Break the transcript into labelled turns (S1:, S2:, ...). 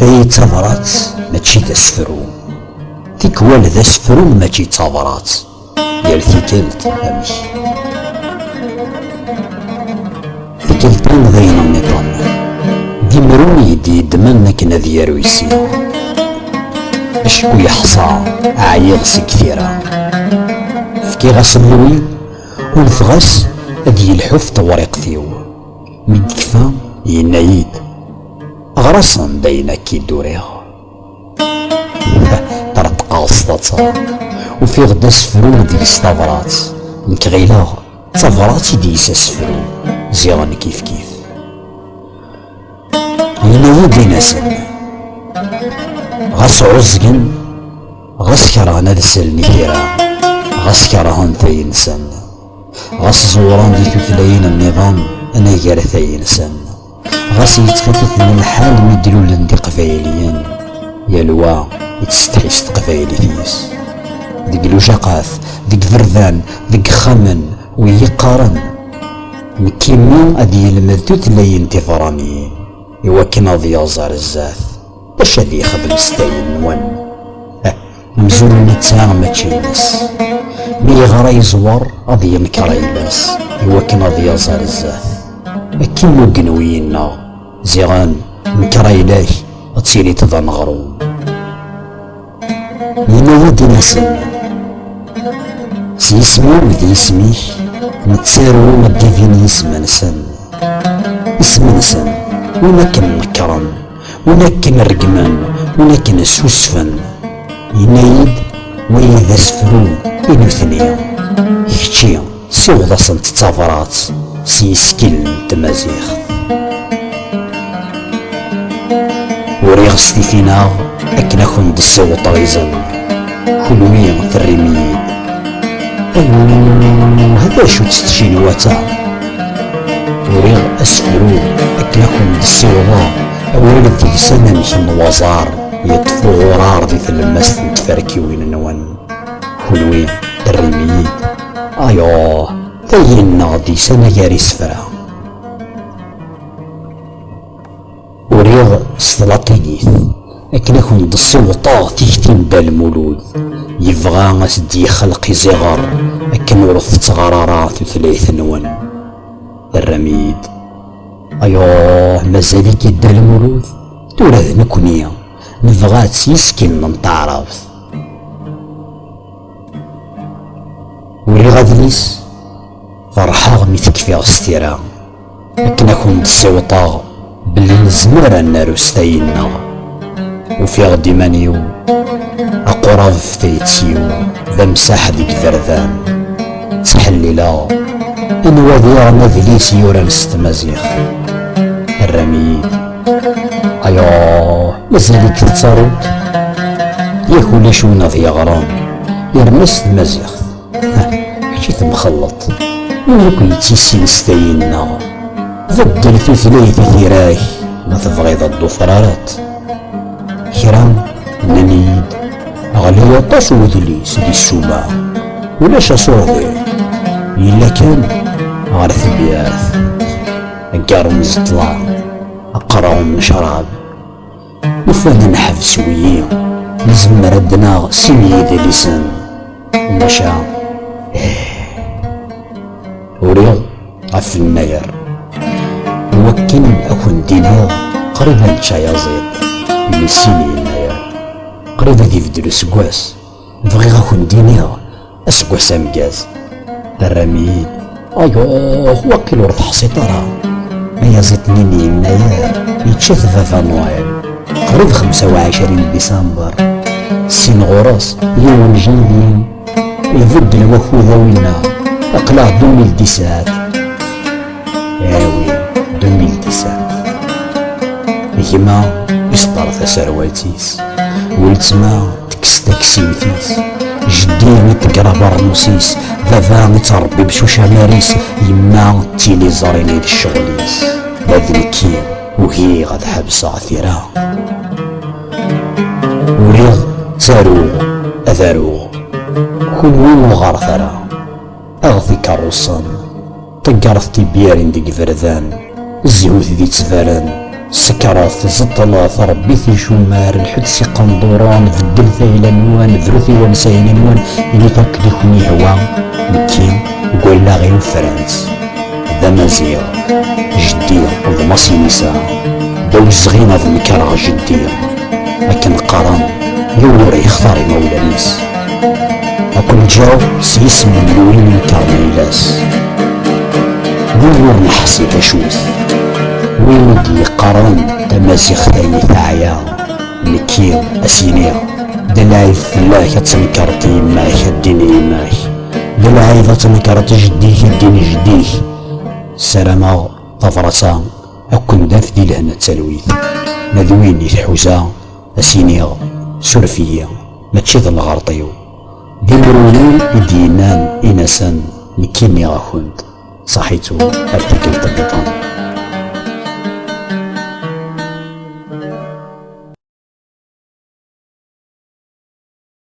S1: Ay tabrat mačči d asefru Tikwal d asefru mačči d tabrat Yal tikelt amek Tikeltan d ayen nniḍen D imru i d-yeddmen akken ad yaru isin Acku yeḥṣa ɛyiɣ seg tira Fkiɣ-as lwi Ulfeɣ-as ad yelḥuf tewriqt-iw. Mi d-tekfa, yenna-yi-d, Ɣer-asen-d ayen akk i d-uriɣ. Ṭreṭqeɣ s taḍsa, ufiɣ-d asefru deg-s tabrat. Nekk ɣileɣ d tabrat i d-yis asefru, ziɣen kifkif. Yenna-yi-d, In-asen, ɣas ɛuẓgen. Ɣas kerhen ad sellen i tira, ɣas kerhen tayinsen, ɣas ẓewren di tutlayin nniḍen anagar tayinsen, ɣas yettxifiten lḥal mi d-lulen d iqbayliyen, yal wa yettsetḥi s teqbaylit-is. Deg lujaqat, deg iberdan, deg ixxamen, wi yeqqaren nekk imi ad yelmed tutlayin tibeṛaniyin iwakken ad yaẓ ar zdat. D acu ad yexdem s tayennwa-n? Amzun netta mačči ines. Mi yeɣra yeẓwer ad yenker ayla-s i wakken ad yaẓ ar zdat. Akken n ugenwi yenna, ziɣen nker ayla-k ad tiliḍ d aneɣrum. Yenna-yi-d inisi. S yisem-iw d yisem-ik nettaru addivin yisem-nsen. Isem-nsen, win akken nekkren, win akken reggmen, win akken susfen. Yenna-yi-d, wagi d asefru i nutni, kečči. Siweḍ-asent tabrat s yisekkilen n tmaziɣt. Uriɣ s titin-aɣ akken a kent-d-ssiweḍeɣ izen, kunwi terrim-iyi-d. Aluh, d acu-tt tcinwat-a? Uriɣ asefru akken a kent-d-ssiweḍeɣ awal d deg-s anamek n waẓar yeṭṭef uɣurar di tlemmast n tferkiwin-nwen, kunwi terrim-iyi-d. Ayuh, tayyenneɣ-d is anagar isefra. Uriɣ s tlatinit, akken ad kent-d-ssiweḍeɣ tikti n Dda Lmulud, yebɣa ad s-d-yexleq iẓiɣer akken ur tettɣar ara tutlayt-nwen. Terram-iyi-d. Ayuh, mazal-ik a Dda Lmulud, tura d nekkni nebɣa-tt yes-k n taɛrabt. uriɣ adlis ferḥeɣ mi tekfiɣ s tira akken ad kent-ssiwṭeɣ belli nezmer ad naru s tayi-nneɣ ufiɣ-d iman-iw aqurab f tayet-iw d amsaḥ deg iberdan ttḥellileɣ anwa diɣen adlis yuran s tmaziɣt rran-iyi-d Ayo, mazal-ik tettaruḍ? Yak ulac win ad yeɣran, yerna s tmaziɣt. Kečč i temxelleḍ. Win akk yettissin s tayi-nneɣ. Beddel tutlayt i tira-k, ma tebɣiḍ ad d-tufrareḍ. Kra nnan-iyi-d, ɣli aṭas udlis di ssuma, ulac asurḍi, yella kan ɣer tebyirt. aggar n ẓeṭla aqraw n ccrab nufad neḥbes wiyi nezmer ad naɣ sin yidlisen maca uriɣ ɣef lmager wakken ad kent-iniɣ qrib ad nečč ayaziḍ mmi sin yennayer qrib ad ibeddel useggas Bɣiɣ ad kent-iniɣ aseggas ameggaz. Terram-iyi-d. Ayɣef waqil ur teḥṣiḍ ara? Ayaziḍ-nni n Yennayer yečča-t Baba Noël, qrib xemsa u ɛecrin Disember. Syin ɣur-s, yiwen Janvier, ibeddel wakud a winna, aql-aɣ-d imi ldisaɛt. gma yesṭer taserwalt-is weltma tekkes taksiwt-is jeddi yeṭṭegger abeṛnus-is baba yettṛebbi bcucamar-is yemma d tiliẓri-n i d ccɣel-is ma d nekki ugiɣ ad ḥebseɣ tira uriɣ ttaruɣ ad aruɣ kunwi ur ɣaṛet ara aɣet ikeṛṛusen Taggart tibbirin deg iberdan, zzhut di ttbaren, sekret, zeṭṭlet, rebbit icumar, lḥut s iqenduren, beddlet ayla-nwen, brut i wansayen-nwen, init akken i ken-yehwa, nekki deg wallaɣ-iw fran-tt. D amaziɣ, jeddi d Masinisa, d awezɣi ad nekreɣ jeddi. akken qqaren yiwen ur yextar imawlan-is akk nǧaw s yisem n win yeqqar layla-s win ur neḥsi d acu-t win i d-yeqqaren tamaziɣt ay teɛya nekki ad s-iniɣ d lɛib fell-ak ad tenkeṛeḍ yemma-k ad d-din yemma-k d lɛib ad tenkeṛeḍ jeddi-k ad d-din jeddi-k ssarameɣ tabṛat-a Akken d at di lehna d talwit, ma d win i tḥuza a s-iniɣ suref-iyi mačči d lɣerḍ-iw. D imru-nni i d-yennan in-asen nekki nniɣ-akent saḥit-u ar tikkelt nniḍen.